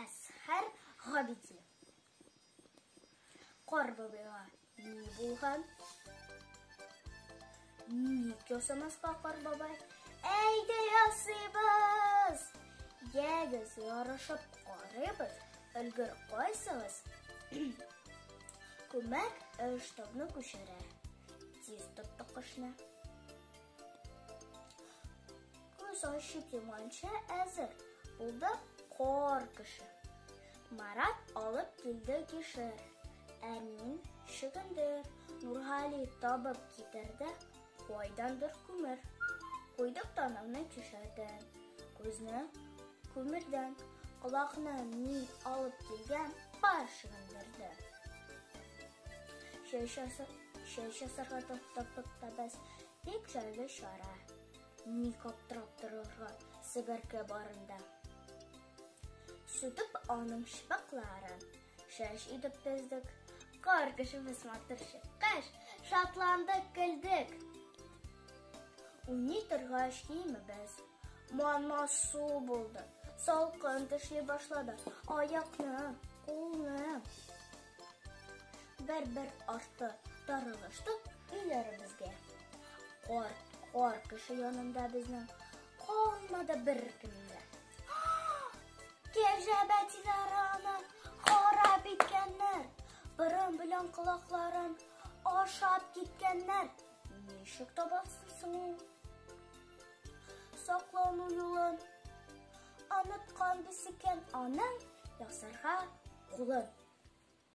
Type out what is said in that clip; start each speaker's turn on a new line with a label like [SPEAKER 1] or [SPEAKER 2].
[SPEAKER 1] Әсхәр Габиди. Кар бабайга ни булган? Ник ясамаска кар бабай? Әйдә ясыйбыз! Ягез, ярышып карыйбыз. Өлгер кайсыгыз? Күмәк эш табны күчерә. Тиз тоттык кышны. Күз ачып йоманча әзер булды кар кеше. Марат алып килде кишер. Әнин чөгендер, Нургали табып китерде, кайдандыр күмер. Куйдык танымны кишердән, күзне күмердән, колакны мин алып килгән пар чөгендердән. Чәй чәй чәсәргә тапып табыз, Бик җайлы чара. Ник аптырап торырга себерке барында. Сүтеп аның шпакларын, шәш итеп тездек. Кар кешебез матур чыккач, шатландык, көлдек. Уйный торгач киемебез манма су булды. Салкын төшли башлады. Аякны, кулны Бер-бер арты тарылыштык өйләребезгә. Кар, кар кеше янында безнең калмады бер кемдә. Кәҗә бәтиләре аны харап иткәннәр. Борын белән колакларын ашап киткәннәр. Ничек табасың соң ул? Саклану юлын оныткан без икән аның ясарга кулын.